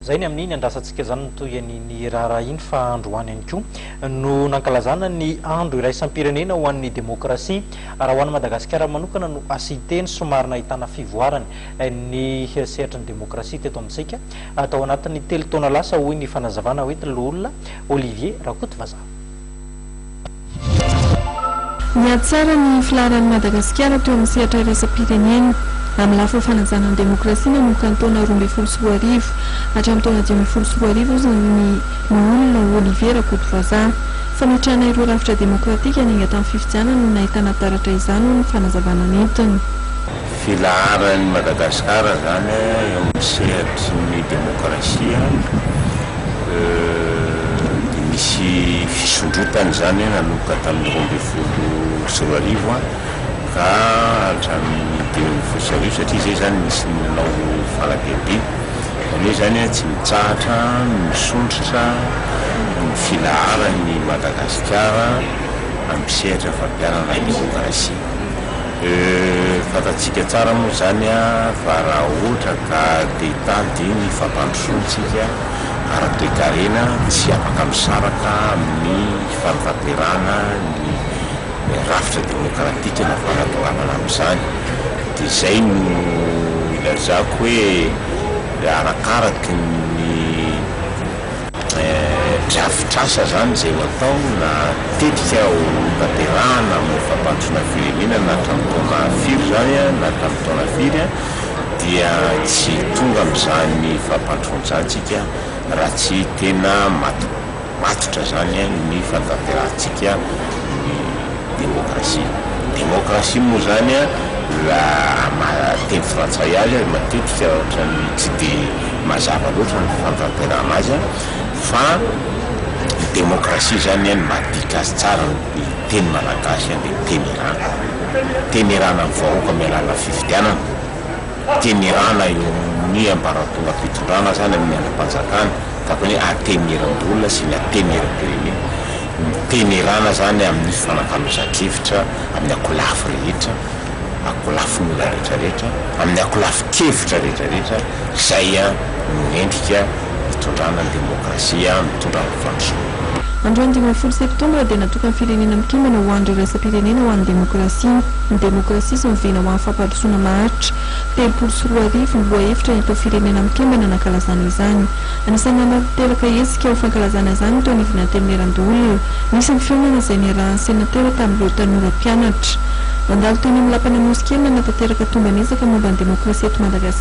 Izay ny amin'iny andrasantsika izany no toy ny niraharaha iny fa androany ihany koa no nankalazana ny andro iraisam-pirenena ho an'ny demokrasia. Raha ho an'i Madagasikara manokana no hasite ny somary nahitana fivoarany ny sehatry ny demokrasia teto amintsika tao anatin'ny telo taona lasa hoy ny fanazavana hoy ny loholona Olivier Rakotovazaha. Nihatsara ny filaharan'i Madagasikara teo amin'ny sehatra iraisam-pirenena, amin'ny lafiny fanajana ny demokrasia nanomboka ny taona roa ambin'ny folo sy roa arivo hatramin'ny taona dimy ambin'ny folo sy roa arivo hozy ny Loholona Olivier Rakotovazaha. Fametrahana ireo rafitra demokratika niainga tamin'ny fifidianana no nahitana taratra izany, hoy ny fanazavana nentiny. Filaharan'i Madagasikara izany eo amin'ny sehatry ny demokrasia dia nisy fisondrotana izany nanomboka tamin'ny roa ambin'ny folo sy roa arivo ka hatramin'ny dimy ambin'ny folo sy arivo satria izay izany nisy ny nanao fanadihadiana. Izany hoe izany tsy mitsahatra ny misondrotra ny filaharan'i Madagasikara amin'ny sehatra fampiharana ny demokrasia. Eeh fantatsika tsara moa izany fa raha ohatra ka te hitady ny fampandrosoantsika ara-toekarena tsy afaka misaraka amin'ny fanatanterahana ny rafitra demokratika na fanatongavana amin'izany dia izay no ilazako hoe arakaraky ny Drafitr'asa izany izay natao na tetika hotanterahana amin'ny fampandrosoana firenena na hatramin'ny taona firy izany na hatramin'ny taona firy dia tsy tonga amin'izany fampandrosoana izany isika raha tsy tena matotra izany ny fanatanterahantsika ny Demokrasia. Demokrasia moa izany raha maha teny frantsay azy aza matetika ohatran'ny tsy dia mazava loatra ny fandrantenana azy fa ny demokrasia izany ny maha dika azy tsara ny teny malagasy dia temerana. Temerana ny vahoaka amin'ny alalan'ny fifidianana. temerana eo amin'ny ambaratongam-pitondrana sa ny amin'ny andrim-panjakana, takon'ny hoe atemeram-bola sy ny atemeram-pirenena, ny temerana izany amin'ny fanakalozan-kevitra amin'ny ankolafy rehetra, ankolafin-olona rehetrarehetra, amin'ny ankolafin-kevitra rehetrarehetra, izay no endrika hitondrana ny demokrasia, mitondra ny fandrosoana. Androany dimy ambin'ny folo septambra dia natokan'ny Firenena Mikambana ho Andro Iraisam-pirenena ho an'ny Demokrasia. Ny demokrasia sy ny vina ho an'ny fampandrosoana maharitra. Telopolo sy roa arivo ny lohahevitra nentin'ny Firenena Mikambana nankalazana izany. Anisan'ny nanao niteraka hetsika ho fankalazana izany ny teo anivon'ny Antenimierandoholona. Nisy ny fihaonana izay niarahan'ny senatera tamin'ireo tanora mpianatra. Nandalo teny amin'ny Lapan'Amosikely nanatanteraka tomban'ezaka momba ny demokrasia eto Madagasikara.